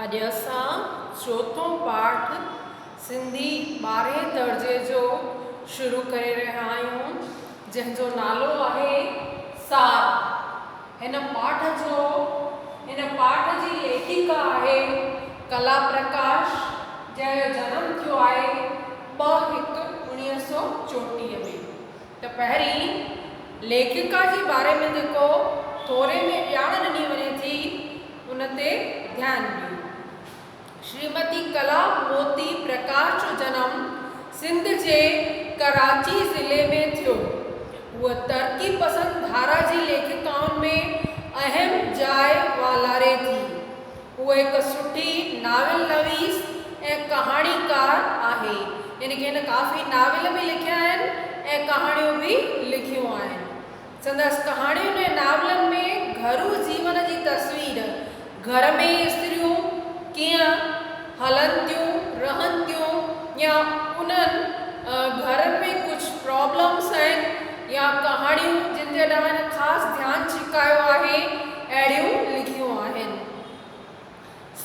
اڄ اسان چوٿون پاٺ سنڌي ٻارهين درجي جو شروع ڪري رهيا آهيون جنهن جو نالو آهي سار هن پاٺ جو هن پاٺ جي ليکيڪا آهي ڪلا پرڪاش جنهن جو جنم ٿيو آهي ٻه هڪ اڻيهه سؤ چوٽيهه ۾ ته پهرين ليکڪا جي باري ۾ جيڪو ٿوري ۾ ڄاڻ ڏني وڃي ٿي ان تي ڌيان ڏيون. شريمتي ڪلا موتي پرڪاش جو جنم سنڌ جي ڪراچي ضلعي ۾ ٿيو. هوء ترقي پسند ڌارا جي ليکڪائن ۾ اهم جاء والاري ٿي. هوء هڪ سٺي ناول نويس ۽ ڪهاڻيڪار آهي، يعني هن ڪافي ناول به لکيا آهن ۽ ڪهاڻيون به لکيون آهن. سندس ڪهاڻين ۽ ناولن ۾ گهرو جيون جي تصوير، گهر ۾ استريون ڪيئن هلن ٿيون، رهن ٿيون يا انهن گهرن ۾ ڪجهه پرابلمس آهن يا ڪهاڻيون جن تي ڏانهن خاص ڌيان ڇڪايو آهي. اهڙيون لکيون آهن.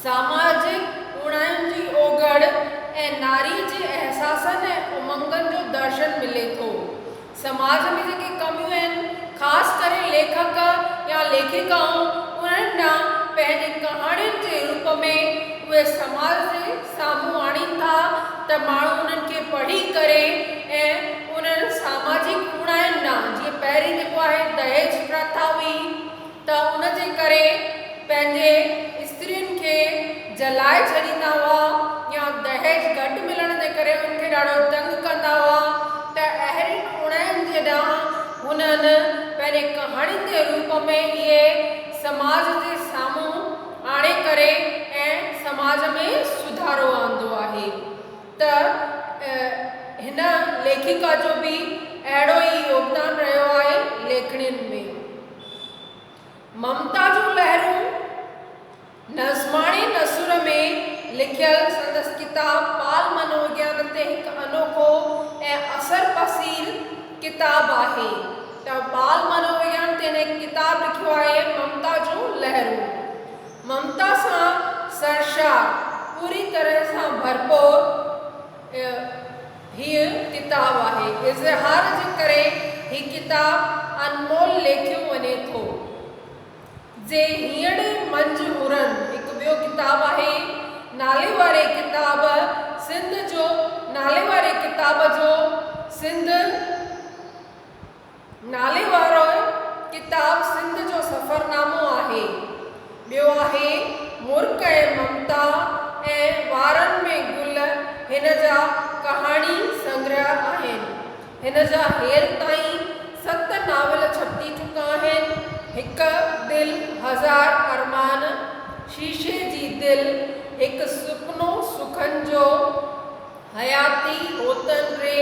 ساماجڪ اوڻاين جي اوگهڙ ۽ ناري جي احساسن ۽ امنگن جو درشن ملي ٿو. سماج ۾ جيڪي ڪميون آهن، خاص ڪري ليکڪ يا ليکڪائون انهن ڏانهن پنهنجي ڪهاڻين جي روپ ۾ اهي سماج جي سامهون آڻين ٿا ته ماڻهو انهن کي پڙهي ڪري ۽ انهن ساماجڪ اوڻاين ڏانهن جيئن پهرين جيڪو آهي دهيج پرٿا هئي، ته ان جي ڪري پنهنجي استرين کي جلائي ڇڏيندا هئا يا دهيج گهٽ ملڻ جي ڪري ان کي ڏاڍو تنگ ڪندا هئا ته اهڙين اوڻاين جي ڏانهن هنن پنهنجي ڪهاڻين جي روپ ۾ اهي سماج جي سامهون آڻي ڪري ۽ سماج ۾ سڌارو آندو آهي. ته هن ليکڪا جو به اهڙو ئي يوگدان رهيو آهي ليکڻين ۾، ممتا جون لهرون نظماڻي نثر ۾ لکيل سندس ڪتاب ٻال منووگيان تي هڪ انوکو ۽ اثر پسيل ڪتاب آهي ته ٻال منووگيان تي هن هڪ ڪتاب لکيو آهي ممتا جون لهرون. ممتا سان سرشار پوري طرح سان ڀرپور هيء ڪتاب آهي. اظهار جي ڪري هي ڪتاب انمول ليکيو وڃي ٿو. جي هينئڙي منجهه هرن هڪ ٻيو ڪتاب آهي. نالي واري ڪتاب سنڌ جو نالي واري ڪتاب جو سنڌ. نالي وارو ڪتاب سنڌ جو سفرنامو آهي. ٻيو آهي مرڪ ۽ ممتا ۽ وارن ۾ گل هن جا ڪهاڻي سنگرهه آهن. هن جا هيل تائين ست ناول ڇپجي چڪا آهن، هڪ دل هزار ارمان، شيشي جي دل، هڪ سپنو سخن جو، حياتي هوتن ري،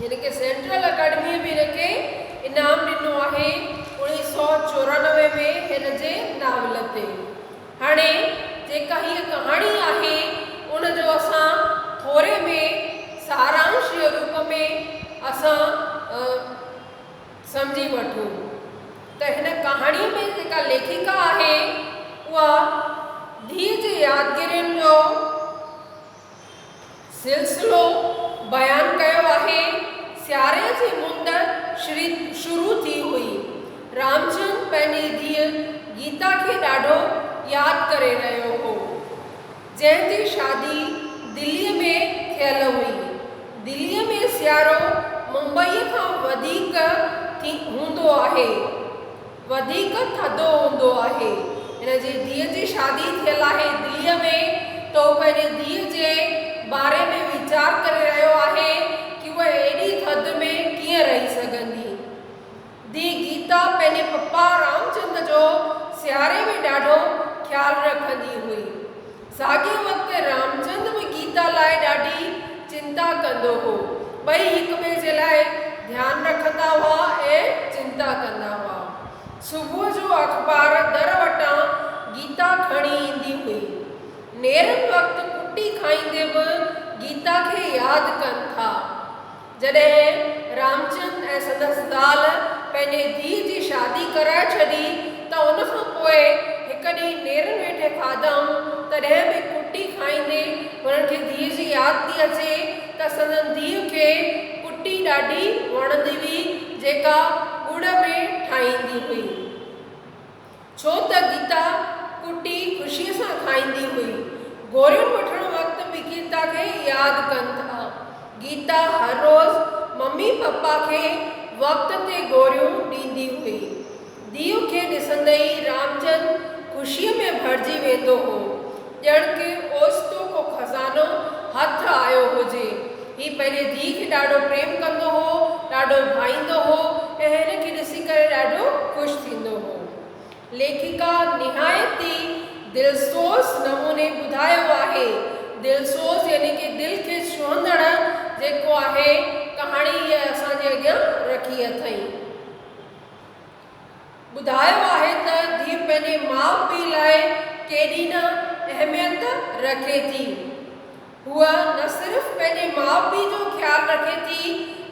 هن کي سينٽرل اڪيڊميء به هن کي انعام ڏنو آهي اڻيهه سؤ چورانوي ۾ هن جي ناول تي. هاڻي جيڪا هيء ڪهاڻي آهي ان جو اسان ٿوري ۾ سارانش جي روپ ۾ اسان سمجهي وٺون ته هن ڪهاڻي ۾ جيڪا ليکڪا آهي اها ڌيء جي يادگيرين جو سلسلو بيان ڪيو آهي. سياري جي مند شروع ٿي هئي. رامچند پنهنجي ڌيء گيتا کي ڏاڍو ياد ڪري رهيو هو. جنهن جي شادي دلي ۾ ٿيل هئي. دلي ۾ سيارو ممبئي کان وڌيڪ هوندو آهي. وڌيڪ ٿڌو هوندو آهي. هن جي ڌيء جي شادي ٿيل آهي دليء ۾. ته هو پنهنجي ڌيء جي باري ۾ ويچار ڪري رهيو آهي ڪي هوء ايڏي ٿڌ ۾ ڪيئن رهي سگهندي. ڌيء گيتا پنهنجي پپا رامچند جو سياري ۾ ڏاڍو خيال رکندي هئي. ساڳئي وقت رامچند به گيتا لاء ڏاڍي چنتا ڪندو هو. ٻئي هڪٻئي جي لاء ڌيان رکندا هئا ۽ چنتا ڪندا هئا. صبح جو اخبار در وٽان گيتا کڻي ايندي هئي. نيرن وقت پٽي کائيندي به گيتا کي ياد ڪن ٿا. جڏهن رامچند ۽ سندس زال پنهنجي ڌيء جي شادي ڪرائي ڇڏي ته ان کان پوء هڪ ڏينهن نيرن ويٺي کاڌائون، تڏهن به ڪٽي کائيندي هنن کي ڌيء جي ياد ٿي اچي ته سندن ڌيء کي ڪٽي ڏاڍي وڻندي هئي، جيڪا ڳڙ ۾ ٺاهيندي هئي. ڇو ته گيتا ڪٽي خوشيء سان کائيندي هئي. گوريون وٺڻ وقت به گيتا کي ياد ڪن ٿا. گيتا هر روز ممي پپا کي وقت تي گوريون ڏيندي هئي. ديو کي ڏسندي ئي رامچند خوشيء ۾ ڀرجي ويندو هو. ڄڻ ڪي اوچتو ڪو خزانو هٿ آيو هجي. هي پنهنجي ڌيء کي ڏاڍو پريم ڪندو هو، ڏاڍو ڀائيندو هو ۽ هن کي ڏسي ڪري ڏاڍو خوش ٿيندو هو. ليکڪا نهايت ئي دلسوز نموني ٻڌايو آهي. دلسوز يعني ڪي دل کي ڇهندڙ جيڪو آهي ڪهاڻي هيء اسان جي اڳيان رکي اٿئي. ٻڌايو آهي ته ڌيء پنهنجي ماء پيء لاء ڪيڏي نه اهميت رکي ٿي. هوء نه صرف پنهنجي ماء پيء جو خيال رکي ٿي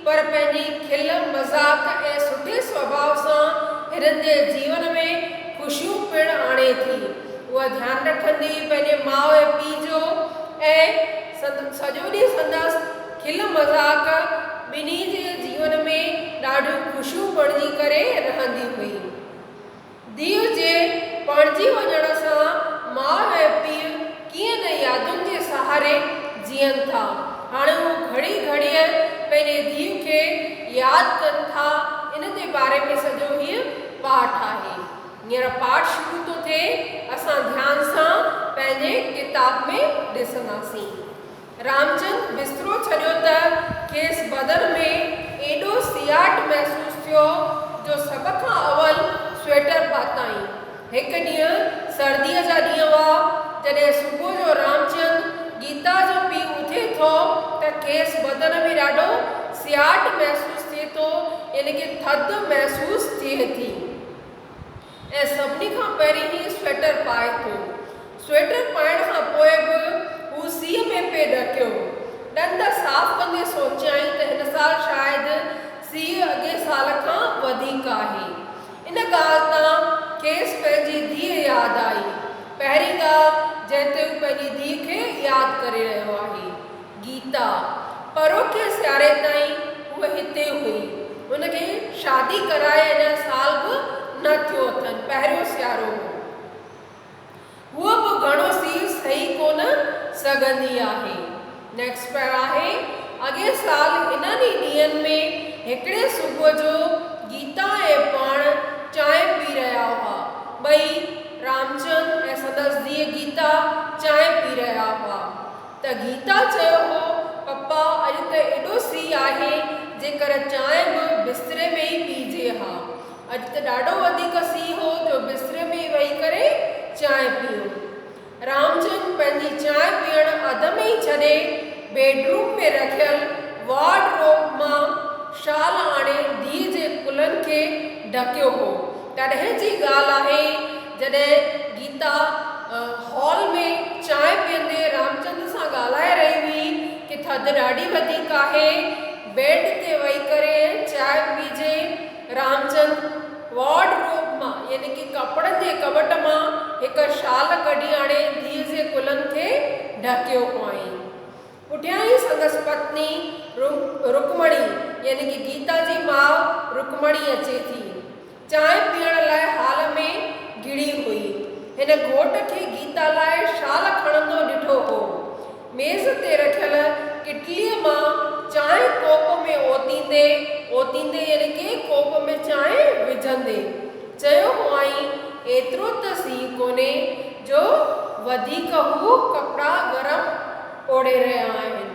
پر پنهنجي کل مذاق ۽ سٺي سڀاء سان هنن جي جيون ۾ خوشيون پڻ آڻي ٿي. هوء ڌيان رکندي پنهنجي ماء ۽ پيء جو ۽ سڄو ڏينهن سندس. کل مذاق ٻنهي جي جيون ۾ ڏاڍيون خوشيون بڻجي ڪري رهندي هئي. ڌيء جي پڻجي وڃڻ سان ماء ۽ پيء ڪيئن نه يادن جي سهاري جيئن ٿا. هاڻ هو گهڙي گهڙيء پنهنجي ڌيء کي ياد ڪن ٿا ان جي باري ۾ سڄو هيء پاٺ آهي. هينئر پاٺ شروع ٿو ٿئي، اسان ڌيان سان پنهنجي ڪتاب ۾ ڏسنداسين. رامچند بسترو ڇڏيو ته کيس بدن ۾ ايڏو سياٽ محسوس ٿيو جو سڀ کان اول سوئيٽر پاتائين. هڪ ڏينهن سرديء جا ڏينهن هئا، جڏهن صبح جو رامچند گيتا جو پيء اٿي ٿو ته کيس بدن ۾ ڏاڍو سياٽ محسوس ٿئي ٿو يعني ڪي ٿڌ محسوس ٿئي ٿي. ۽ سڀني کان پهرين هي سويٽر پائي ٿو. سويٽر پائڻ کان پوء به هو سيء ۾ پئي ڏڪيو. ڏند صاف ڪندي سوچيائين ته هن سال شايد سيء اڳئين سال کان وڌيڪ آهي. ان ڳالهه تان کيس پنهنجي ڌيء ياد آئي. پهرين ڳالهه جنهن تي هو پنهنجي ڌيء کي ياد ڪري رهيو آهي. گيتا، پروڙڪيء سياري تائين هوء هتي هئي. هن کي شادي ڪرائي اڃا سال به نه ٿيو اٿن، پهريون سيارو هو. هوء به گهڻو سير سهي ڪونه سگهندي آهي. Next Par آهي، اڳئين سال هنن ئي ڏينهن ۾ هڪڙي صبح جو گيتا ۽ پاڻ چانهه پي رهيا هئا. ٻئي، رامچند ۽ سندس ڌيء گيتا، چانهه پي رهيا هئا. ته گيتا چيو هو، پپا اڄ ته ايڏو سيء آهي، جيڪر چانهه به بستري ۾ ئي پيئجي ها. اڄ ته ڏاڍو وڌيڪ سيء هو جو بستري ۾ ئي ويهي ڪري چانهه پيئون. رامچند پنهنجي چانهه پيئڻ اڌ ۾ ئي ڇڏي، بيڊ روم ۾ رکيل وارڊ روب مان شال آڻي ڌيء جي ڪلهن کي ڍڪيو هو. تڏهن جي ڳالهه آهي. جڏهن گيتا هال ۾ چانهه پيئندي رامچند سان ڳالهائي رهي هئي ته ٿڌ ڏاڍي وڌيڪ آهي، بيڊ تي ويهي ڪري ۽ چانهه پيجي. رامچند وارڊ روب مان يعني ڪي ڪپڙن جي ڪٻٽ مان هڪ شال ڪڍي آڻي ڌيء جي ڪلهن کي ڍڪيو هئائين. پٺيان ئي سندس پتني رڪمڻي يعني ڪي گيتا جي ماء رڪمڻي اچي ٿي. چانهه پيئڻ لاء هال ۾ گهڙي هئي. هن گهوٽ کي گيتا لاء شال کڻندو ڏٺو هو. ميز تي رکيل ڪٽليء مان چانهه ڪوپ ۾ اوتيندي اوتيندي يعني ڪي ڪوپ ۾ چانهه وجهندي چيو هئائين، ايترو ته سي ڪونهي جو وڌيڪ هو ڪپڙا گرم اوڙي رهيا آهن.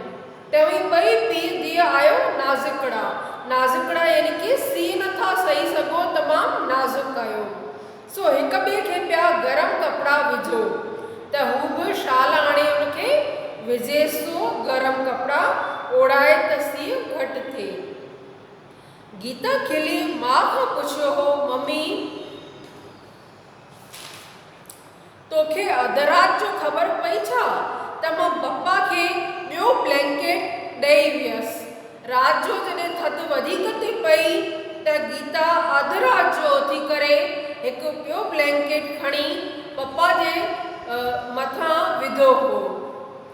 توهين ٻئي پيء ڌيء آهيو نازڪڙا. نازڪڙا يعني ڪي سي نه ٿا سهي سگهو تمام نازڪ آهيو سو هڪ ٻئي کي پيا گرم ڪپڙا وجهو ته هو به شال آڻي ان کي وجهيس سو گرم ڪپڙا اوڙائي ته سيء گهٽ ٿئي. گيتا کلي ماء کان پڇيو هو ممي! توکي اڌ رات جو خبر پئي ڇا ته مان پپا کي ٻيو بلينڪيٽ ڏئي ويس. رات جو جڏهن ٿڌ وڌيڪ ٿي پئي ته گيتا اڌ رات جو اٿي ڪري هڪ ٻيو بلينڪيٽ کڻي پپا جي مٿان وڌو هو.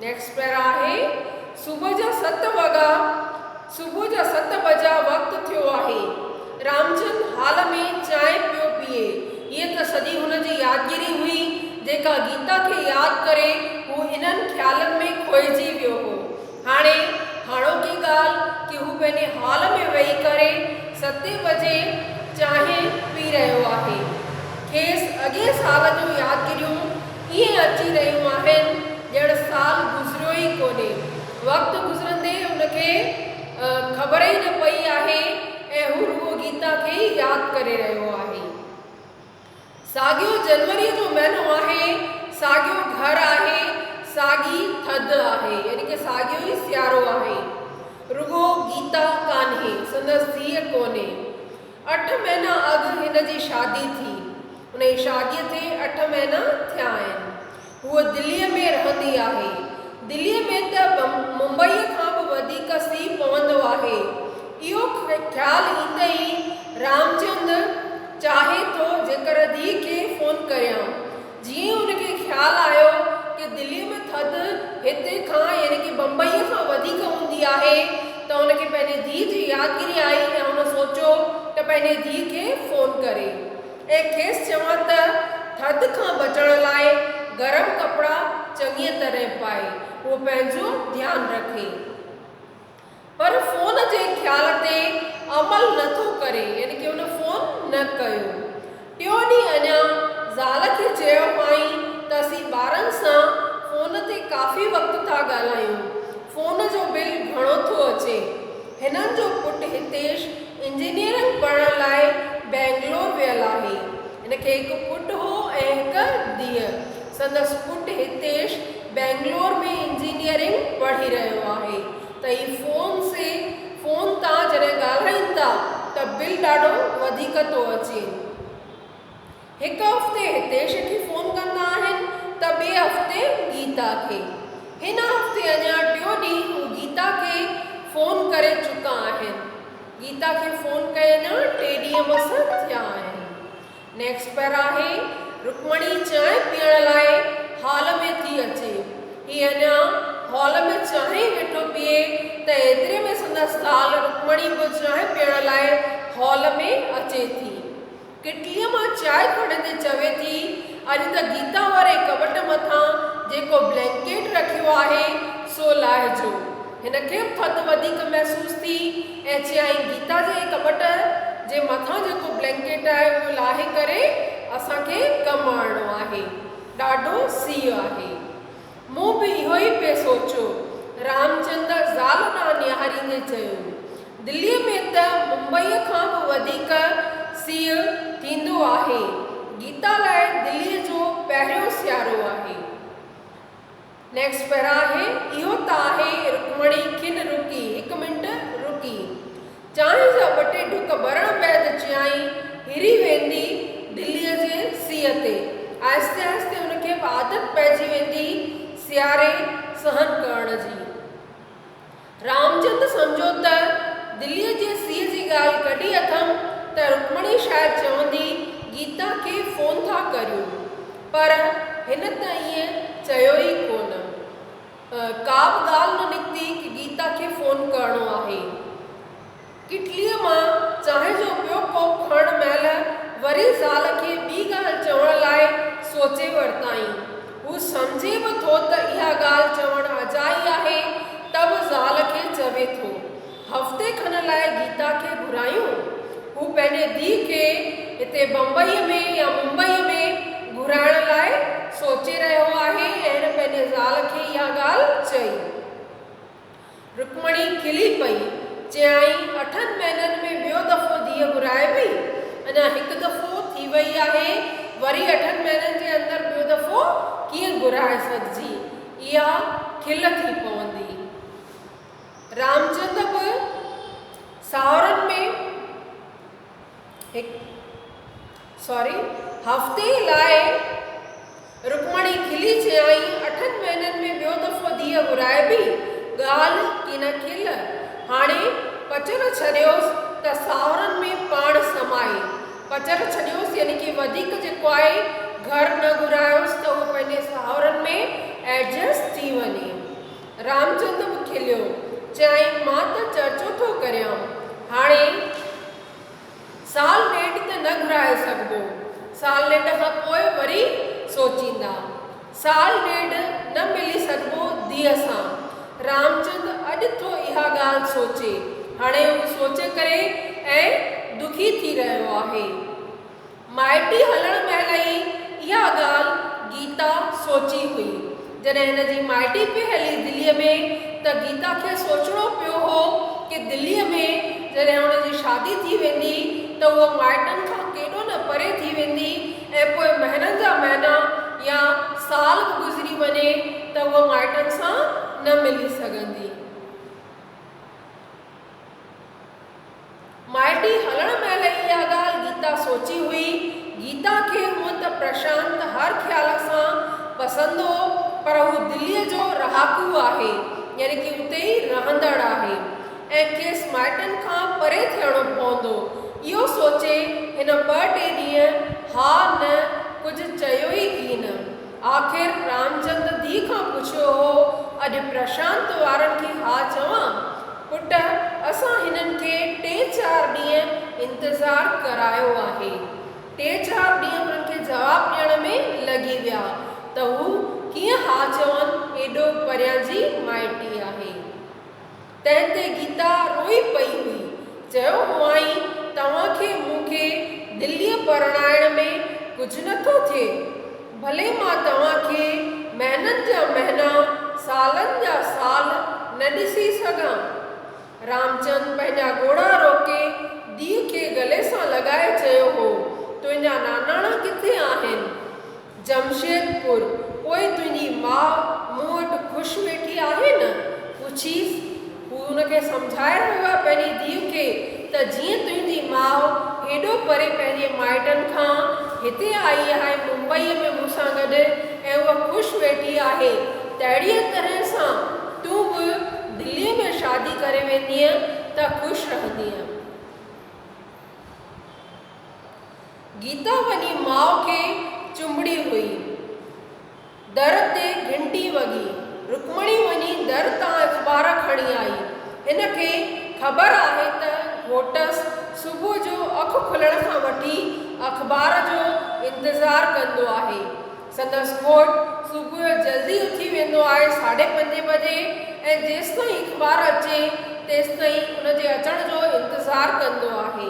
نيڪسٽ پيرا آهي صبح جا ست وڳا صبح جا ست بجا وقت ٿيو آهي رامچند هال ۾ چانهه پيو پيئي هيء ته سڄي هن جي يادگيري هئي جيڪا گيتا کي ياد ڪري هو انهن خيالن ۾ کوئجي ويو هو هاڻي هاڻوڪي ڳالهه ڪي هو پنهنجي هال ۾ ويهي ڪري ستين بجي چانهه پي رهيو آهي کيس اڳين سال جون يادگيريون ائين اچي رهيون آهن ڄڻ سال گذريو ئي ڪونهي. وقت گذرندي هن کي خبر ئي نه پئي آهي ۽ هو رڳو گيتا کي ئي ياد ڪري رهيو آهي. ساڳيو جنوريء جو مهينو آهي، ساڳيو گهر آهي، ساڳي ٿڌ آهي يعني ڪه ساڳيو ئي سيارو آهي. رڳو گيتا ڪانهي، سندس ڌيء ڪونهي. اٺ مهينا اڳ هن جي شادي ٿي. هن جي شاديء کي اٺ مهينا ٿيا آهن. هوء دليء ۾ رهندي آهي. دليء ۾ ته ممبئيء کان به وڌيڪ سيء پوندو آهي. اهو خيال ايندي ئي رامچند چاهي ٿو جيڪر ڌيء کي فون ڪريان. جيئن هن کي خيال آيو ته دليء ۾ ٿڌ هتي کان يعني ڪي بمبئيء کان وڌيڪ هوندي آهي ته هن کي پنهنجي ڌيء جي يادگيري آئي ۽ هن سوچيو ته پنهنجي ڌيء کي فون ڪري ۽ کيس چوان ته ٿڌ کان بچڻ لاء گرم ڪپڙا چڱيء طرح پائي هوء پنهنجو ڌيان رکي. پر فون جي خيال تي عمل نه ٿو ڪري يعني ڪي ان فون نه ڪيو ٽيون ڏينهن اڃا زال کي چيو هئائين ته اسين ٻارن سان فون تي ڪافي وقت ٿا ڳالهايون فون جو بل گهڻو ٿو اچي هنن جو پٽ هتيش انجنيئرنگ پڙهڻ لاء بئنگلور ويل آهي هن کي هڪ پٽ هو ۽ هڪ ڌيء سندس پٽ هتيش بئنگلور ۾ انجنيئرنگ پڙهي رهيو آهي ته هي فون سي فون تان جڏهن ڳالهائين ٿا ته بل ڏاڍو وڌيڪ ٿو اچي. هڪ هفتي هتيش کي فون ڪندا آهن ته ٻئي هفتي گيتا کي. هن هفتي اڃا ٽيون ڏينهن هو گيتا کي فون ڪري چڪا آهن. گيتا کي فون ڪئي اڃا ٽي ڏينهن مس ٿيا آهن. نيڪسٽ پر آهي، رڪمڻي چانهه پيئڻ لاء هال ۾ ٿي اچي. هي اڃا هال ۾ چانهه ئي ويٺو پيئي ته ايتري ۾ سندس زال رڪمڻي به چانهه پيئڻ لاء هال ۾ اچي ٿي. ڪٽليء مان چانهه کڻندي چوي ٿي، اڄ ته گيتا واري ڪٻٽ مٿان جيڪو بلينڪيٽ رکيو آهي، سو لاهجو. هن کي به ٿڌ وڌيڪ محسوس ٿي ۽ چيائين، گيتا جي ڪٻٽ جي مٿان جيڪو بلينڪيٽ آهي اهو لاهي ڪري اسان کي ڪم آڻڻو آهي. ڏاڍو سيء آهي. مون به اهو ئي پئي سوچيو. رامچند زال ڏانهن نهاريندي چيو، دليء ۾ ته ممبئيء کان به وڌيڪ سيء ٿيندو آهي. گيتا لاء دليء جو پهريون سيارو آهي. نيڪسٽ پيرا آهي اهو ته آهي رڪمڻي کن رڪي هڪ منٽ رڪي چانهه جا ٻه ٽي ڍڪ ڀرڻ بعد چيائين هري ويندي دلي جي سيء تي آهستي آهستي ان کي به عادت پئجي ويندي سياري سهن ڪرڻ جي. رامچند سمجهيو ته دليء جي سيء جي ڳالهه ڪڍي اٿم ته رڪمڻي شايد چوندي گيتا کي فون ٿا ڪريون پر هن ته ائين چيو ئي ڪونه. ڪابه ڳالهه نه نڪتي ڪه گيتا کي فون ڪرڻو آهي. ڪٽليء مان چانهه جو ٻيو ڪوپ کڻڻ مهل وري زال کي ٻي ڳالهه چوڻ لاء سوچي ورتائين. هو سمجهي به ٿو ته اها ڳالهه چوڻ اجائي آهي، ته به زال کي چوي ٿو. هفتي کن لاء گيتا کي گهرايون. هو پنهنجي ڌيء کي هتي بمبئيء ۾ يا ممبئيء ۾ گهرائڻ لاء سوچي رهيو آهي ۽ هن پنهنجي زال کي اها ڳالهه چئي. رڪمڻي کلي پئي، چيائين، اٺن مهينن ۾ ٻيو دفعو ڌيء گهرائبي؟ اڃا هڪ دفعو ٿي وئي آهي، وري اٺن مهينن جي اندر ٻيو دفعو ڪيئن گهرائي سگهجي؟ اها کل ٿي پوندي. رامچند به ساهرن ۾ هڪ. سوري هفتي لاء رڪمڻي کلي چيائين، اٺن مهينن ۾ ٻيو دفعو ڌيء گهرائبي، ڳالهه ڪين کل، هاڻي پچر ڇڏيوس ته ساهرن ۾ پاڻ سمائي، پچر ڇڏيوس يعني ڪي وڌيڪ جيڪو آهي گهر نه گهرايوس ته اهو پنهنجي ساهرن ۾ ايڊجسٽ ٿي وڃي. رامچند به کليو، چيائين مان ته چرچو ٿو ڪريان، هاڻي. سال نيٽ ته نه گهرائي سگهبو، سال نيٽ کان پوء وري سوچيندا. سال ڏيڍ نه ملي سگهبو ڌيء سان. رامچند اڄ ٿو اها ڳالهه سوچي. هاڻي هو سوچي ڪري ۽ دکي ٿي رهيو آهي. مائٽي هلڻ مهل ئي اها ڳالهه گيتا سوچي هئي. جڏهن هن جي مائٽي پئي هلي دليء ۾ ته گيتا کي سوچڻو پيو هو ڪي دليء ۾ جڏهن هن جي شادي ٿي ويندي ته هوء مائٽن کان ڪيڏو نه پري ٿي ويندي ۽ پوء مهنن جا مهينا يا سال به گذري وڃي ته هوء مائٽن سان نه ملي سگهندي. مائٽي هلڻ مهل اها ڳالهه گيتا سوچي هئي. گيتا کي هونء ته پرشانت هر خيال سان پسند هو پر هو دليء جو رهاڪو آهي يعني ڪي اتي ئي رهندڙ آهي ۽ کيس مائٽن کان پري ٿيڻو پوندو. اهو سوچي هن ٻه ٽي ڏينهن ها نه ڪجهه چيو ئي ڪين. آخر رامچند ڌيء کان پڇيو هو، اڄ پرشانت وارن کي ها چوان؟ پٽ، اسان هنن کي ٽي چار ڏينهن انتظار ڪرايو آهي. ٽي چار ڏينهن هنن کي جواب ڏيڻ ۾ لڳي ويا ته هو ڪيئن ها چون، ايڏو پريان جي مائٽي آهي. تنهن تي گيتا روئي پئي هئي. چيو هئائين، توهان کي مون کي دليء پرڻائڻ ۾ ڪجهه نه ٿو ٿئي. ڀلي مان توهان کي مهنن جا مهنا، سالن جا سال نه ڏسي سگهان. رامچند پنهنجا ڳوڙها روڪي ڌيء کي گلي سان لڳائي چيو هو، تنهنجا ناناڻا ڪٿي آهن؟ جمشيدپور، پوء تنهنجي ماء مون وٽ خوش ويٺي آهي نه؟ پڇيس. هو هن کي سمجهائي رهيو آهي پنهنجي ڌيء کي ته جيئن تنهنجي ماء هيڏو پري پنهنجي مائٽن کان هتي آئي آهي ممبئيء ۾ مون سان گڏ ۽ هوء خوش ويٺي آهي تهڙيء طرح سان تون به دليء ۾ شادي ڪري ويندينء ته خوش رهندينء. گيتا وڃي ماء کي چنبڙي هئي. در تي گهنٽي وڳي. رڪمڻي وڃي در تان اخبار کڻي آئي. هن کي خبر آهي ته گهوٽس صبح جو اک کلڻ کان وٺي اخبار جو انتظار ڪندو آهي. سندس گهوٽ صبح جو جلدي اٿي ويندو آهي ساڍي پنجين بجي ۽ جيستائين اخبار اچي تيستائين ان جي اچڻ جو انتظار ڪندو آهي.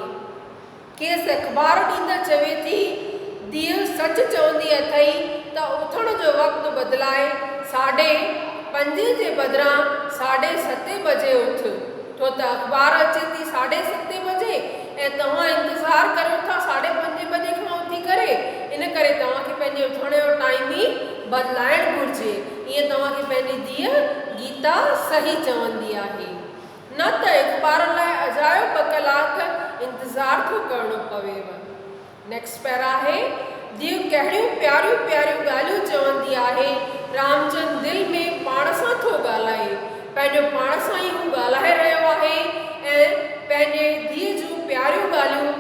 کيس اخبار ڏيندڙ چوي ٿي، ڌيء سچ چوندي اٿئي ته اٿڻ جو وقت بدلائي ساڍي پنجين جي بدران ساڍي ستين بجي اٿ، ڇو ته اخبار اچي ٿي ساڍي ستين بجي ۽ توهان انتظار ڪريو ٿا ساڍي پنجين بجي کان اٿي ڪري، ان ڪري توهان کي پنهنجي اٿڻ جو ٽائيم ئي بدلائڻ گهرجي. ائين توهان کي پنهنجي ڌيء گيتا صحيح چوندي آهي. نه ته اخبار لاء اجايو ٻه ڪلاڪ انتظار ٿو ڪرڻو پويو. نيڪسٽ پيرا آهي، ديو ڪهڙيون پياريون پياريون ڳالهيون چوندي آهي، رامچند دل ۾ پاڻ سان ٿو ڳالهائي، پنهنجو پاڻ سان ئي هو ڳالهائي رهيو آهي ۽ پنهنجي ديء جون پياريون ڳالهيون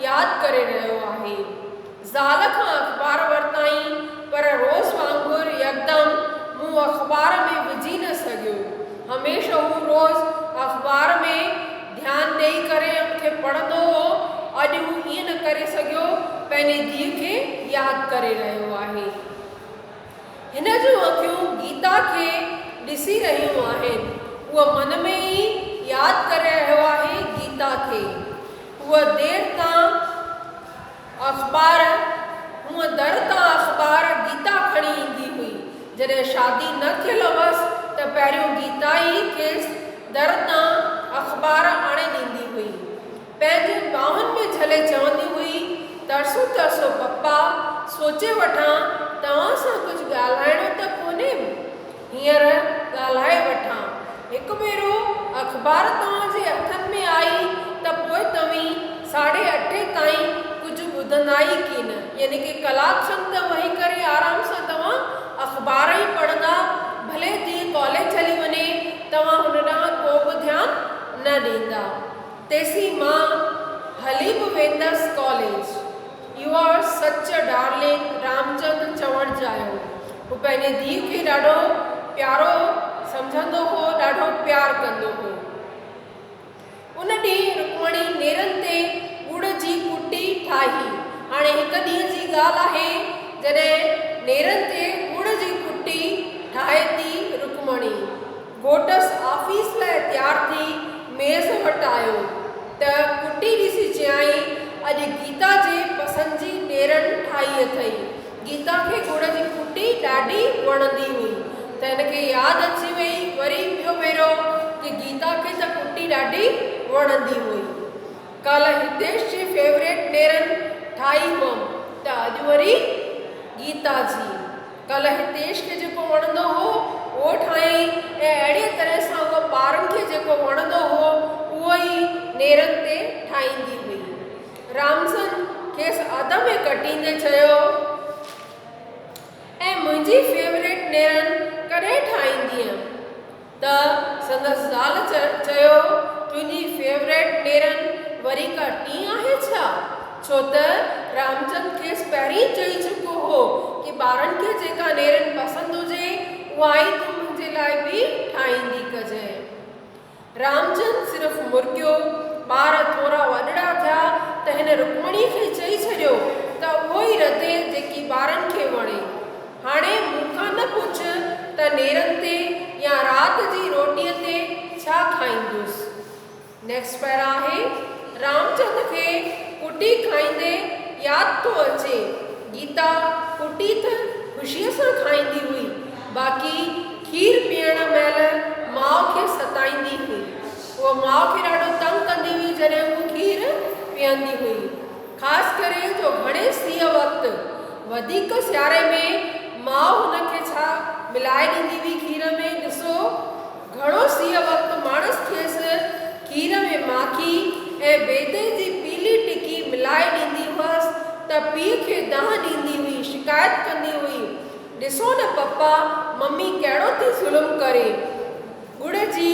ياد ڪري رهيو آهي. زال کان اخبار ورتائين پر روز وانگر يڪدم منهن اخبار ۾ وجهي نه سگهيو. هميشه هو روز اخبار ۾ ڌيان ڏئي ڪري ان کي پڙهندو هو. اڄ هو ائين نه ڪري سگهيو، پنهنجي ڌيء کي ياد ڪري رهيو آهي. هن جون اکيون گيتا کي ڏسي رهيون آهن. هو من ۾ ئي ياد ڪري رهيو آهي گيتا کي. هوء دير تان. اخبار، هونء در تان اخبار گيتا کڻي ايندي هئي. جڏهن شادي نه ٿيل هئس ته پهريون گيتا ئي کيس در تان اخبار آڻي ڏيندي هئي. پنهنجين ٻانهن ۾ جهلي چوندي هئي، ترسو ترسو پپا، سوچي وٺان توهان سان ڪجهه ڳالهائڻو ته ڪونهي؟ هينئر ڳالهائي وٺان. هڪ ڀيرو اخبار توهان جي هٿن ۾ آئي ته پوء توهين ساڍي اٺين تائين ڪجهه ٻڌندا ئي ڪين. يعني ڪي ڪلاڪ کن ته وهي ڪري آرام سان توهان اخبار ئي پڙهندا. ڀلي ڌيء ڪاليج هلي وڃي، توهان هن ڏانهن ڪو به ڌيان نه ڏيندا. تيسين مان هلي به ويندس college. You are such a darling, Ramchand چوڻ چاهيو. هو پنهنجي ڌيء کي ڏاڍو پيارو سمجهندو هو، ڏاڍو پيار ڪندو هو. ان ڏينهن رڪمڻي نيرن تي ڳڙ جي ڪٽي ٺاهي. هاڻي هڪ ڏينهن جي ڳالهه آهي، جڏهن نيرن تي ڳڙ جي ڪٽي ٺاهي ٿي رڪمڻي گهوٽس آفيس لاء تيار ٿي ميز وٽ آيو ته ڪٽي ڏسي چيائين، اڄ گيتا جي پسند جي نيرن ٺاهي اٿئي. گيتا کي گڙ جي ڦٽي ڏاڍي وڻندي هئي ته هن کي ياد اچي وئي وري ٻيو ڀيرو ته گيتا کي ته ڦٽي ڏاڍي وڻندي هئي ڪالهه هتيش جي فيوريٽ نيرن ٺاهي هئم ته اڄ وري گيتا جي ڪالهه هتيش کي جيڪو وڻندو هو اهو ٺاهيائين ۽ اهڙيء طرح سان هوء ٻارن کي جيڪو وڻندو هو اهو ئي نيرن تي ٺاهيندي هئي. رامسن کيس آڌ ۾ ڪٽيندي چيو، ۽ منهنجي فيوريٽ نيرن ڪڏهن ٺاهيندينء؟ ته سندس زال چيو، تنهنجي فيوريٽ نيرن وري ڪا ٽين آهي ڇا؟ ڇو ته رامسن کيس پهرين ئي چئي چڪو هو ڪي ٻارن کي جيڪا نيرن پسند هجي اها ئي تون منهنجي لاء به ٺاهيندي ڪجانء. رامجن صرف مرڪيو، ٻار ٿورا وڏڙا ٿيا ته هن رڪمڻي کي چئي ڇڏيو ته اهو ئي رڌي جيڪي ٻارن کي وڻي. هاڻي مون کان نه پڇ ته نيرن تي يا رات جي روٽيء تي ڇا کائيندس. Next Para آهي رامچند کي ڪٽي کائيندي ياد ٿو اچي، گيتا ڪٽي ته خوشيء سان کائيندي هئي، باقي کير پيئڻ مهل ماء کي ستائيندي هئي. هوء ماء کي ڏاڍو تنگ ڪندي هئي جڏهن هوء کير پيئندي هئي. خاص ڪري جو گهڻي سيء وقت، وڌيڪ سياري ۾ ماء هن کي ڇا ملائي ڏيندي هئي کير ۾ ڏسو گهڻو سيء وقت ماڻس کيس کير ۾ ماکي ۽ بيضي جي پيلي ٽڪي ملائي ڏيندي هئس ته پيء کي دانهن ڏيندي هئي، شڪايت ڪندي هئي. ڏسو نه پپا ممي ڪهڙو ٿي ظلم ڪري. ڳڙ جي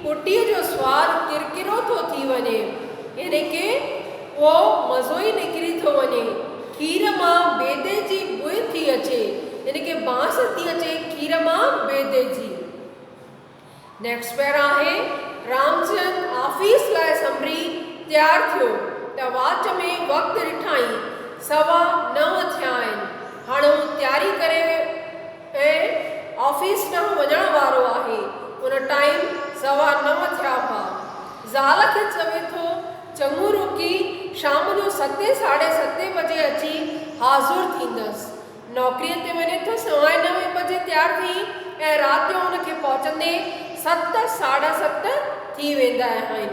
ڦٽيء جو سواد ڪرڪرو ٿو ٿي وڃي يعني ڪي اهو مزو ئي نڪري ٿو وڃي. کير مان بيدي جي بوء ٿي اچي يعني ڪي بانس ٿي اچي کير مان بيدي جي. نيڪسٽ پير آهي رامچند آفيس لاء سنبري تيار ٿيو ته واچ ۾ وقت ڏٺائين سوا نو ٿيا آهن هاڻ هو تياري ڪري ۽ آفيس ڏانهن وڃڻ وارو آهي ان ٽائيم سوا نو ٿيا هئا زال کي چوي ٿو چڱو روڪي شام جو ستين ساڍي ستين بجي اچي حاضر ٿيندس نوڪريء تي وڃي ٿو، سوائي نوين بجي تيار ٿي ۽ رات جو هن کي پهچندي ست ساڍا ست ٿي ويندا آهن.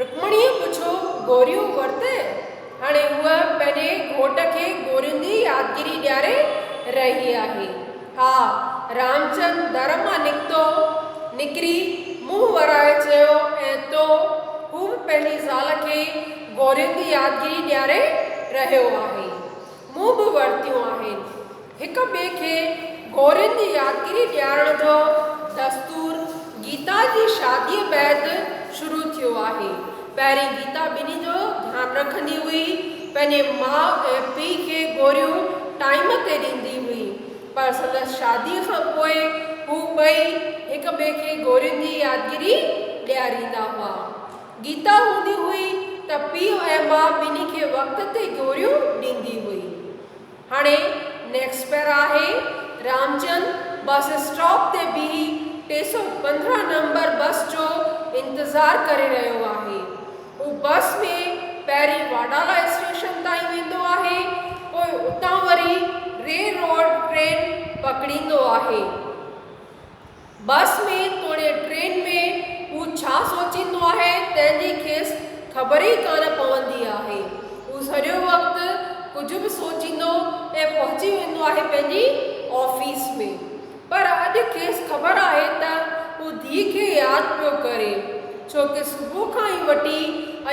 رڪمڻيء پڇيو، گوريون ورتئه؟ هاڻي هوء پنهنجي گهوٽ کي گورين جي يادگيري ڏياري رهي آهي. ها. رامچند در مان نڪتو، نڪري منهن ورائي چيو، ۽ تو؟ هو به پنهنجي زال کي گورين جي يادگيري ڏياري رهيو آهي. مون به ورتيون آهن. هڪ ٻئي کي گورين جي يادگيري ڏيارڻ جو دستور گيتا جي شاديء بعد شروع ٿيو آهي. پهرين گيتا ٻنهي جو ڌيان رکندي هئي. پنهنجي ماء ۽ پيء کي گوريون ٽائيم تي ڏيندي هئي. پر سندس شاديء کان پوء هو ٻئي هڪ ٻئي کي گورين جي يادگيري ڏياريندا هئا. گيتا هوندي هئي ته پيء ۽ ماء ٻنهي کي وقت تي گوريون ڏيندي هئي. هاڻي نيڪس پير آهي. رامچند بس اسٽاپ تي بيهي ٽي سؤ پندرهن نمبر بس جو انتظار ڪري رهيو آهي. هو بس ۾ پهرين واڊالا اسٽيشن تائين ويندو آهي، پوء اتان وري ري روڊ ٽرين پڪڙيندو آهي. بس ۾ توڙي ٽرين ۾ هو ڇا سوچيندو آهي تنهن جي کيس خبر ئي ڪانه پوندي آهي. هو سڄو وقت ڪجهه به سوچيندو ۽ پهچي ويندو آهي پنهنجي آفيس ۾. پر اڄ کيس خبر آهي ته هو ڌيء کي ياد پيو ڪري ڇو ڪه صبح کان ئي وٺي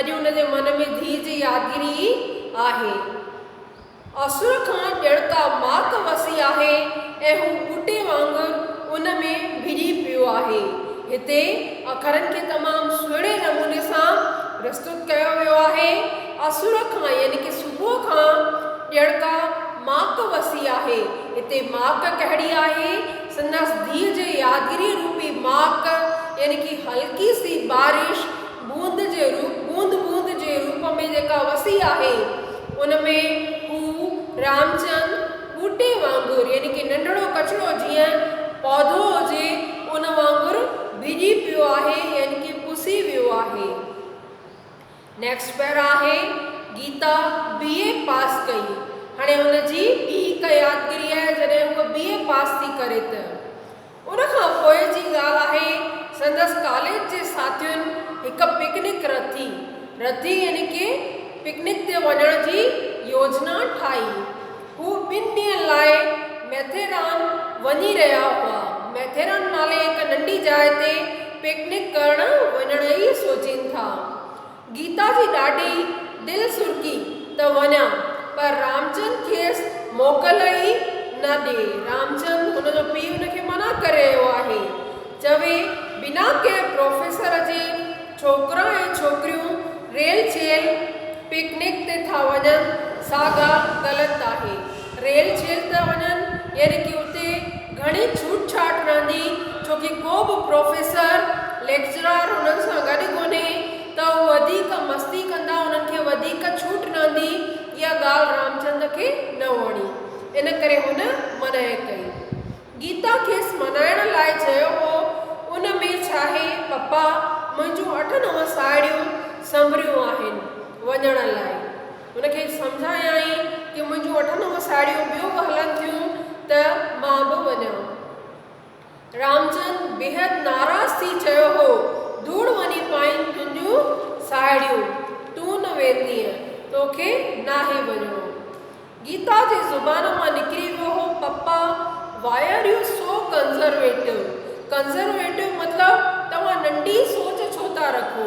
اڄ هن جي من ۾ ڌيء جي يادگيري ئي آهي. اسر کان ڄڻ ڪا ماڪ وسي آهي ۽ هو ٻوٽي وانگر ان ۾ ڀڄي پيو آهي. هتي اکرن کي تمام سهڻي نموني سان پرستت ڪيو ويو آهي. اسر کان يعني ڪه صبح کان ڄڻ ڪا ماڪ وسي آهي. هتي ماڪ ڪهڙي آهي؟ سندس ڌيء جي يادگيري روپي ماڪ يعني ڪه هلڪي سي بارش. بوند جي روپ، بوند بوند جي روپ ۾ جيڪا وسي آهي، ان ۾ هو رامچند ٻوٽي وانگر يعني ڪي ننڍڙو ڪچڙو جيئن پوڌو هجي ان وانگر ڀيڄي پيو آهي يعني ڪي پسي ويو آهي. نيڪسٽ پيرا آهي گيتا بي اي پاس ڪئي هاڻي هن جي ٻي هڪ يادگري آهي جڏهن هوء بي اي پاس ٿي ڪري ته. ان کان پوء جي ڳالهه آهي سندس ڪاليج جي ساٿين هڪ پڪنڪ رٿي، رٿي يعني ڪي پڪنڪ تي وڃڻ جي يوجنا ٺاهي. هو ٻن ڏينهن لاء ميٿيران وڃي رهيا هئا. ميٿيران نالي هڪ ننڍي جاء تي پڪنڪ ڪرڻ وڃڻ ئي سوچين ٿا. گيتا جي ڏاڍي دل سرڪي ته وڃان، پر رامچند کيس موڪل ئي نه ڏئي. رامچند، هن جو پيء هن کي منع ڪري رهيو آهي. چوي بنا ڪنهن پروفيسر جي ڇوڪرا ۽ ڇوڪريون ريل چيل پڪنڪ تي ٿا وڃن، سا ڳالهه غلط آهي. ريل ڇيل ٿا وڃن يعني ڪي اتي گهڻي ڇوٽ ڇاٽ رهندي ڇو ڪي ڪو به پروفيسر ليڪچرار انهن سان گڏ ڪونهي ته هو وڌيڪ مستي ڪندا انهن کي وڌيڪ ڇوٽ رهندي اها ڳالهه رامچند کي نه وڻي ان ڪري هن منعي ڪئي گيتا کيس منائڻ لاء چيو هو ان ۾ ڇاهي پپا منهنجون اٺ نو ساهيڙيون سنڀريون آهن وڃڻ لاء. هن کي سمجهايائين ته منهنجون اٺ نو ساهيڙيون ٻيون به هلن ٿيون ته مان به وڃان. رامچند بيحد ناراض ٿي چيو هو، ڌوڙ وڃي پائين تنهنجون ساهيڙيون، تون نه ويندينء، توکي ناهي وڃڻو. گيتا جي زبان مان نڪري ويو هو، papa why are you so conservative, conservative مطلب توهان ننڍي سوچ ڇو ٿا رکو.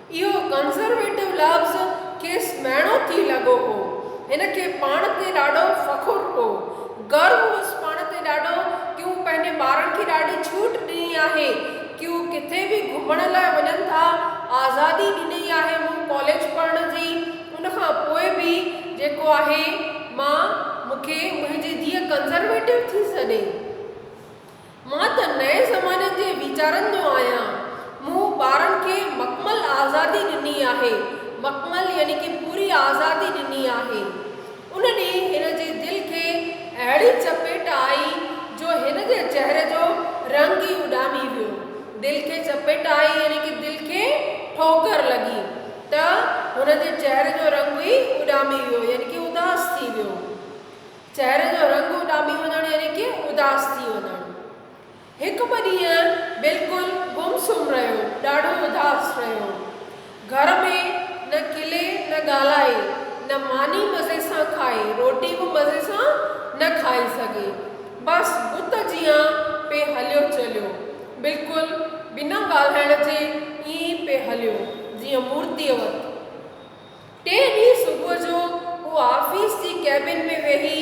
اهو ڪنزرويٽو لفظ کيس مهڻو ٿي لڳو هو. هن کي پاڻ تي ڏاڍو فخر هو. گرو هوس پاڻ تي ڏاڍو ڪي هو پنهنجي ٻارن کي ڏاڍي ڇوٽ ڏني آهي. ڪي هو ڪٿي به گهمڻ لاء وڃن ٿا. آزادي ڏني آهي مون ڪاليج پڙهڻ جي. ان کان پوء به جيڪو آهي مان مون کي منهنجي ڌيء ڪنزرويٽو ٿي سڏي. مان ته نئين زماني جي ويچارن جو آهيان. مون ٻارن کي مڪمل آزادي ڏني آهي. مڪمل يعني ڪي پوري آزادي ڏني آهي. ان ڏينهن هن جي دل کي اهڙي چپيٽ آئي جو هن جي چهري جو رنگ ئي اڏامي ويو. دل کي چپيٽ آئي يعني ڪي دل کي ٺوڪر لڳي ته هن جي چهري جو رنگ ئي اڏامي ويو يعني ڪي اداس ٿي ويو. چهري جو رنگ اڏامي وڃڻ يعني ڪي اداس ٿي وڃڻ. هڪ ٻه ڏينهن بلڪل گم سم رهيو، ڏاڍو اداس رهيو. گهر ۾ نه کلي نه ڳالهائي، نه ماني مزي سان کائي، روٽي به مزي سان نه کائي سگهي. بس بت جيان پئي هليو چليو. بلڪل بنا ڳالهائڻ جي ائين ئي پئي هليو جيئن مورتيء وت. ٽئين ڏينهن صبح جو هو آفيس جي ڪيبن ۾ ويهي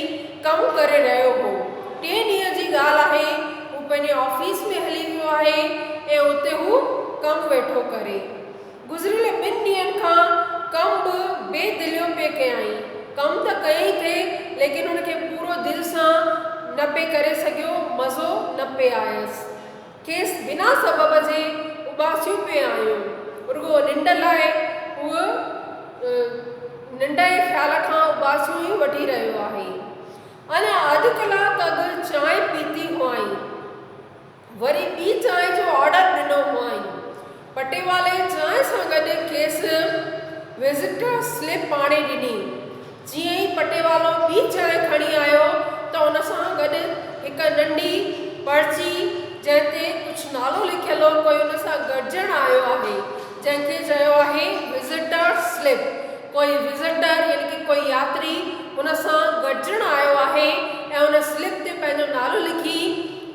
ڪم ڪري رهيو هو. ٽئين ڏينهن جي ڳالهه آهي، هو پنهنجي آفيس ۾ هلي ويو آهي ۽ اتي هو ڪم ويٺو ڪري. گذريل ٻن ڏينهن کان ڪم به بي دليون پئي ڪيائين. ڪم ته ڪيائين ٿي ليڪن هن کي پورو دل سان نه پئي ڪري سگهيو، مزو نه پئي آيس. کيس بنا سبب جي اباسيون پئي آيون، رڳو ننڊ لاء هو ننڊ جي خيال کان اباسيون ئي وٺي رهيو آهي. اڃا اڌ ڪلاڪ اڳ چانهه پيتي هئائين، وري ٻي چانهه جو آرڊر ڏنو هئائين. پٽيوالي چانهه سان گڏ کيس وزٽر سلپ آڻي ڏني. جيئن ئي پٽيوالو ٻي چانهه کڻي آيو ته ان سان گڏ هڪ ننڍي پرچي جنهن تي ڪجهه نالو لکيل هو ڪوئي ان سان گڏجڻ آيو آهي جنهن کي چيو آهي وزٽر سلپ ڪوئي وزٽر يعني ڪي ڪوئي ياتري ان سان گڏجڻ آيو آهي ۽ ان سلپ تي پنهنجو نالو لکي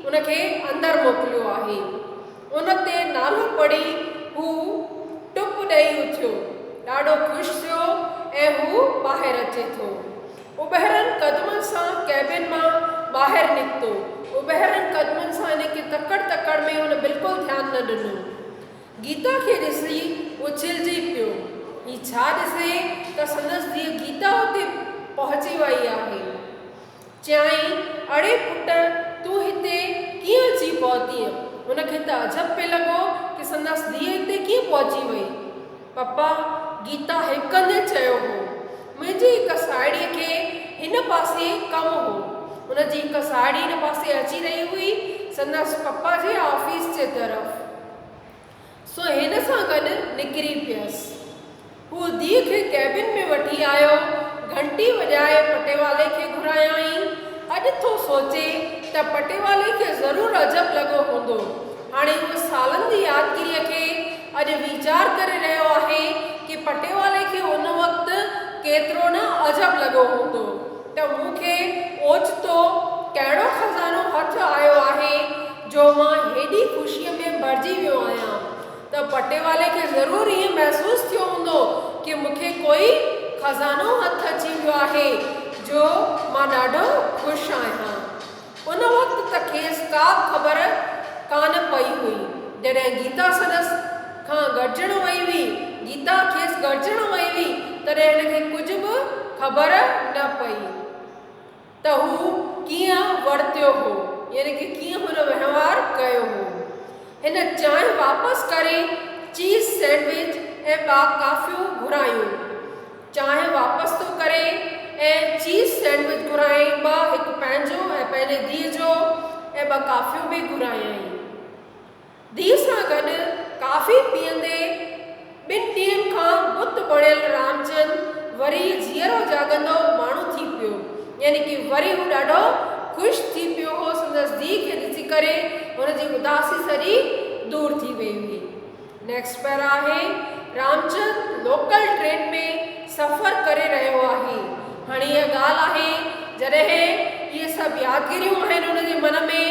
ان کي اندر موڪليو آهي. ان تي نالو پڙهي هو ٽپ ڏئي اٿيو، ڏاڍو خوش ٿيو ۽ هو ٻاهر اچي ٿو. اٻهرن قدمن سان ڪيبن مان ٻاهر نڪتو. اٻهرن قدمن سان ان کي تڪڙ تڪڙ ۾ هن بلڪل ڌيان نه ڏنو. گيتا کي ڏسي اڇلجي پيو. هي ڇا ڏسي ته سندس ڌيء گيتا اتي پهچي ويئي آهي. چيائين، اڙي پٽ، تون هتي ڪيئن اچي پهتينء؟ هن کي ته عجب پئي لڳو ته سندس ڌيء هتي ڪيئن پهچي وئي؟ پپا، گيتا هڪندي چيو هو، منهنجي هڪ ساهيڙيء کي هن پاسي ڪم هو. هن جي هڪ ساهيڙي هن پاسي اچي رهي هئي، سندس پپا جي آفيس جي طرف. سو هن سان گڏ نڪري پيس. هو ڌيء کي ڪيبن ۾ وٺي آيو، گهنٽي وڄائي پٽيوالي کي گهرايائين. اڄ ٿو سوچي ته پٽيوالي کي ضرور عجب لڳو هوندو. هاڻي هو سالن جي يادگيريء کي اڄ ويچار ڪري رهيو آهي ڪي پٽيوالي کي ان وقت ڪيترو نه عجب لڳو هوندو ته مون کي اوچتو ڪهڙو خزانو هٿ آيو آهي، جو مان هيڏي خوشيء ۾ ڀرجي ويو آهيان ته پٽيوالي کي ضرور ائين محسوس ٿيو هوندو ڪي مون کي ڪوئي خزانو هٿ اچي ويو آهي جو مان ڏاڍو خوش آهيان. ان وقت ته کيس ڪا به خبر ڪانه پئي هئي. جڏهن گيتا سندس کان گڏجڻ وئي هئي، گيتا کيس گڏجڻ وئي هئي، تڏهن هن کي ڪجهه به خبر نه پئي. ته هو ڪيئن ورتيو هو يعني ڪه ڪيئن هن وهنوار ڪيو هو. هن چانهه واپس ڪري چيز سينڊوچ ۽ ٻا ڪافيون گهرايون. چانهه واپس ٿو ڪري ۽ چيز سينڊوچ گهرائين ٻه هڪ پنهنجو ۽ پنهنجي ڌيء جو ۽ ٻه ڪافيون به گهرايائين. ڌيء سان گڏ ڪافي پيئندي ٻن ڏينهن کان بت بڻيل رامچند وري جيئرو جاڳندو ماڻهو ٿي پيو. يعني ڪي وري هو ڏاڍو خوش ٿي پيو هو. سندس ڌيء کي ڏسي ڪري هن جي اداسي سڄي دور ٿي وئي هئي. نيڪسٽ پيرا آهي، رامچند لوڪل ٽرين ۾ سفر ڪري رهيو آهي. هاڻي اها ڳالهه آهي جڏهن اهي سڀ يادگيريون آهن هن جي من ۾.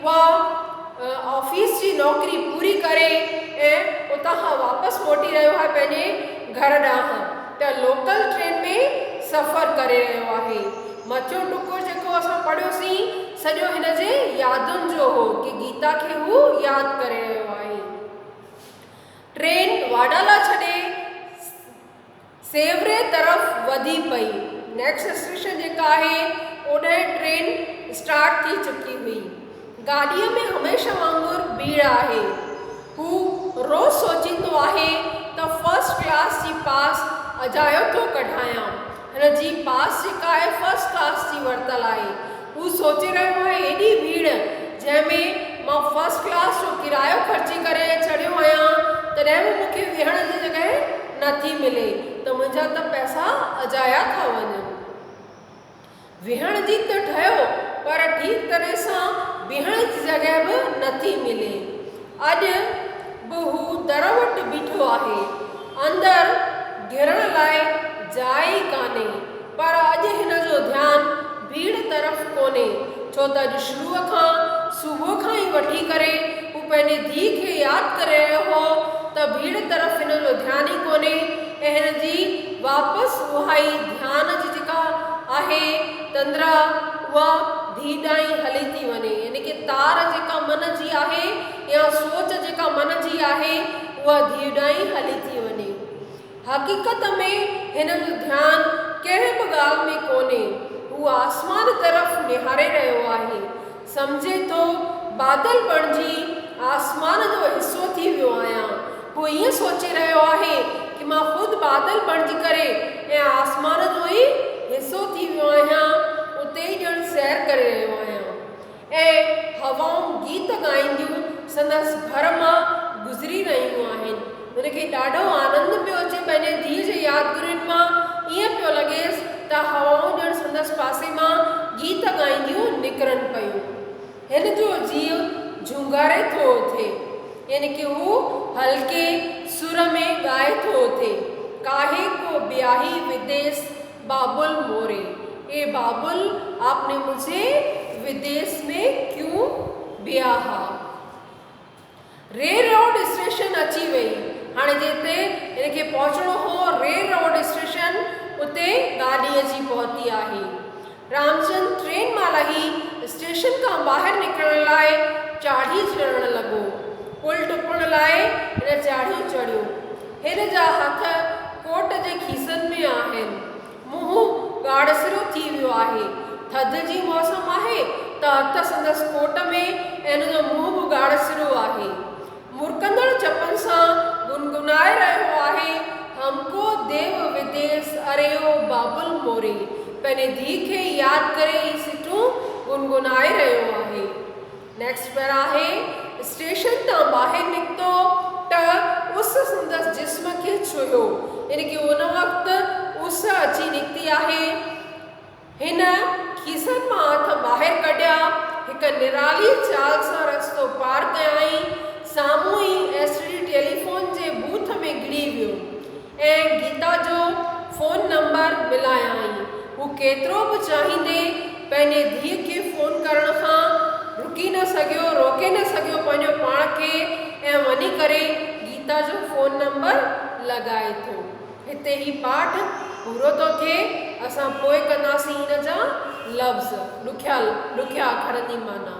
اها آفيس جي نوڪري پوري ڪري ۽ اتان کان واپس موٽي رهيو آهي پنهنجي گهر ڏانهن ته لوڪل ٽرين ۾ سفر ڪري رهيو آهي مٿيون ٽڪر جيڪو اسان پڙهيوسين سڄو هن جي يادن جو هو ڪي گيتا کي هو ياد ڪري رهيو آهي ٽرين واڊالا ڇڏي سيوھري طرف وڌي پئي. نيڪسٽ اسٽيشن جيڪا آھي اوڏانهن ٽرين اسٽارٽ ٿي چڪي ھئي. گاڏيء ۾ ھميشه وانگر ڀيڙ آھي. ھو روز سوچيندو آھي ته فرسٽ ڪلاس جي پاس اجايو ٿو ڪڍايان. ھن جي پاس جيڪا آھي فرسٽ ڪلاس جي ورتل آھي. هو سوچي رهيو آهي ايڏي ڀيڙ جنهن ۾ مان فرسٽ ڪلاس جو ڪرايو خرچي ڪري چڙهيو آهيان تڏهن به مون کي ويهڻ جي جڳهه نه ٿي ملي ته منهنجا ته پئسا اجايا ٿا وڃن. ويهڻ جي ته ٺهيو پر ٺيڪ طرح سان بيهڻ جي جڳهه به نه ٿي ملي. اڄ به هو در وٽ بيٺو آهي. اندر گهڙڻ لاء جاء ئي ڪانهي. پر اڄ هن جو ڌيان ڀيڙ طرف ڪونهي، ڇو ته اڄ شروع کان، صبح کان ئي وٺي ڪري، هو پنهنجي ڌيء کي ياد ڪري رهيو هو ته ڀيڙ طرف هن جو ڌيان ئي ڪونهي ۽ هن جي واپس اهائي ڌيان جي جيڪا آهي تندرا، اها هي ڏانهن هلي ٿي وڃي يعني ڪي تار جيڪا من جي آهي يا سوچ جيڪا من جي آهي اها ڌيء ڏانهن هلي ٿي وڃي. حقيقت ۾ هن جو ڌيان ڪنهن به ڳالهه ۾ ڪونهي هو آسمان طرف نهاري رهيو آهي سمجهي ٿو بادل بڻجي آسمان جو حصو ٿي ويو آهيان هو ائين سوچي رهيو آهي ته مان خود بادل بڻجي ڪري ۽ آسمان جو ئي حصو ٿي ويو آهيان، اتي ئي ڄڻ سير ڪري رهيو آهيان ۽ هوائون گيت ڳائينديون سندس ڀر مان گذري رهيون آهن. هن کي ڏاڍو آنند پيو اچي پنهنجي ڌيء جي يادگيرين مان، ائين پيو لڳيس ته هوائون ڄڻ سندس پاسي مان گيت ڳائينديون نڪرن پيون. هن جو جيء جهونگاري ٿو اٿي، يعني ڪي هو هلڪي سر ۾ ڳائي ٿو اٿي، ڪاهي ڪو بياهي وديس بابل موري، اي بابل آپ ني مجهي وديس ۾ ڪيون بياها. ريل روڊ اسٽيشن اچي وئي هاڻي جتي هن کي پهچڻو هو ريل روڊ اسٽيشن اتي گاڏي اچي پهتي آهي. رامچند ٽرين مان لهي اسٽيشن کان ٻاهر نڪرڻ لاء چاڙهي چڙهڻ لڳو. پل ٽپڻ لاء هن چاڙهي چڙهيو. هن جا هٿ ڪوٽ جي کيسن ۾ آهن. منهن ڳاڙهسرو ٿي ويو آهي. ٿڌ جي موسم آهي ته هٿ سندس ڪوٽ ۾ ۽ هن جو منهن به ڳاڙهسرو آهي. مرڪندڙ چپن سان گنگنائي رهيو آهي، هم ڪو ديو وديس اريو بابل موري. پنهنجي ڌيء کي ياد ڪري هي سٽون گنگنائي رهيو آهي. نيڪسٽ پر آهي، اسٽيشن تان ٻاهر نڪتو ته اس سندس جسم کي ڇهيو، يعني ڪي ان وقت اس اچي نڪتي آهي. هن کيسن مان هٿ ٻاهر ڪڍيا، هڪ نرالي چال سان رستو پار ڪيائين، سامهون ئي ايس ٽي ڊي ٽيليفون جي بوٿ ۾ گهڙي ويو. ۽ گيتا جو فون نمبر ملايائين. هو ڪيترو به چاهيندي پنهنجي ڌيء کي فون ڪرڻ کان رڪي نه سگهيو، روڪي نه سگهيو پنهنجو پاڻ کي ۽ وڃي ڪري گيتا جو فون نمبر لڳائي ٿو. هتي هي پاٺ پورو ٿو ٿئي. اسان پوء ڪنداسين ان جا لفظ، ڏکيا ڏکيا اکرن جي معنيٰ.